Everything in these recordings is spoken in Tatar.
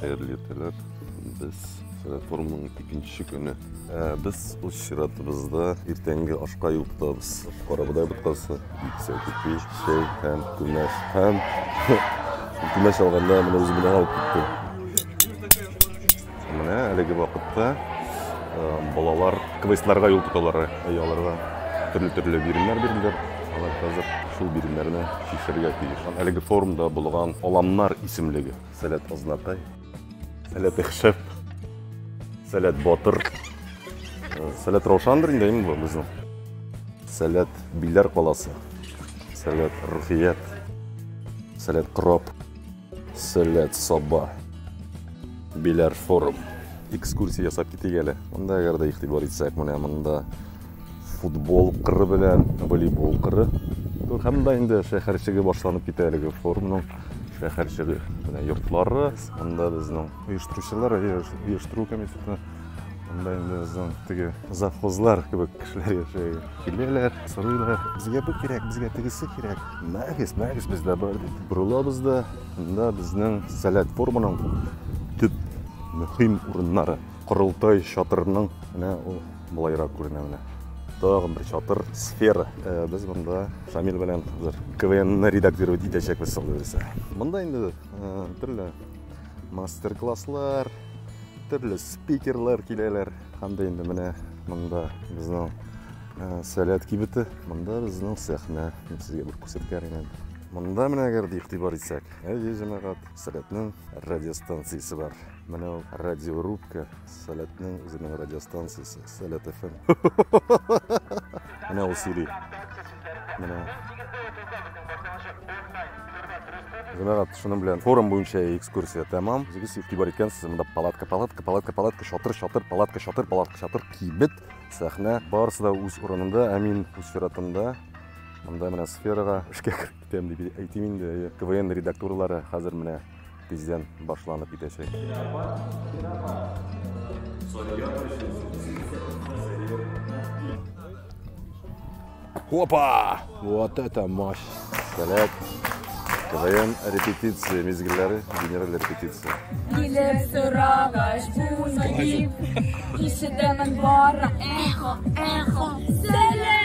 Хәерле иртәләр. Без реформаның икенче көне. Ә, без үз чиратыбызда иртәнге ашка юл тотабыз. Карабодай боткасы, биксә кипи, чәй һәм күмәч. Һәм күмәч алганда менә үзем белән алып киттем. Менә әлеге вакытта балалар квестларга юл тоталар, аларга төрле-төрле биремнәр бирделәр. Алар хәзер шул биремнәрне чишергә тиеш. Әлеге форумда булган Аламнар исемлеге. Сәләт Азнакай, Сәләт Ихшәп, Сәләт Батыр, Сәләт Раушандыр инде инде безнең. Сәләт Биләр каласы, Сәләт Рухият, Сәләт Кроп. Сәләт саба. Биләр форум. Экскурсия ясап китик әле. Монда әгәр дә игътибар итсәк, менә монда футбол кыры белән волейбол кыры. Һәм монда инде шәһәрчеге башланып китә әлеге форумның шәһәрчеге. Менә йортлары, монда безнең оештыручылар, оештыру комитеты. Анда инде безнең теге завхозлар кебек кешеләр яши. Киләләр, сорыйлар, безгә бу кирәк, безгә тегесе кирәк. Мәгез, мәгез бездә бар дип. Борылабыз да, анда безнең сәләт форманың төп мөһим урыннары. Корылтай чатырының менә ул былайрак күренә менә. Тагын бер чатыр, сфера. Э, без монда Шамил белән хәзер КВНны редактировать итәчәкбез, сау Монда инде э, төрле Мастер-класслар, төрле спикерлар киләләр. Анда инде менә монда безнең э, сәләт кибете, монда безнең сәхнә. Мин сезгә бер күрсәткән идем. Монда менә әгәр дә игътибар итсәк, әйе, җәмәгать, сәләтнең радиостанциясе бар. Менә ул радиорубка Сәләтнең үзенең радиостанциясе Сәләт FM. Менә ул сөйли. Менә. Җәмәгать, шуның белән форум буенча экскурсия тәмам. Үзегез игътибар иткәнсез, монда палатка, палатка, палатка, палатка, чатыр, чатыр, палатка, чатыр, палатка, чатыр, кибет, сәхнә. Барысы да үз урынында, ә мин үз чиратымда монда менә сферага эшкә кереп китәм дип әйтим инде. КВН редактурлары хәзер менә тиздән башланып китәчәк. Опа! Вот это мощь! Сәләт! КВН репетиция мизгелләре, генераль репетиция. Килеп сорагач, буны дип, ишетәмен бары, эхо, эхо, сәләм!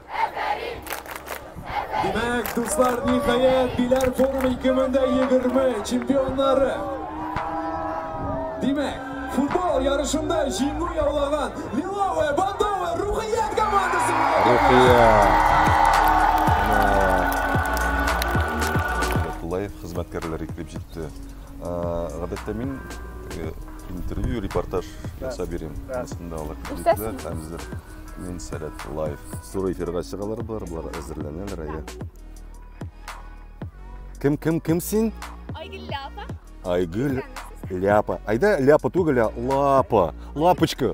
Димәк, дуслар, ниһаять, Биләр форум 2020 чемпионнары. Димәк, футбол ярышында җиңү яулаган Лиловая Бандова Рухият командасы. Рухият. Лайф хезмәткәрләре килеп җитте. Гадәттә мин интервью, репортаж ясап йөрим. Анда алар килделәр, хәзер Мин сәләт лайф. Зур эфирга чыгалар болар, болар әзерләнәләр әйе. Кем, кем, кем син? Айгөл Ляпа. Айгөл Ляпа. Айда Ляпа түгел, а Лапа. Лапочка.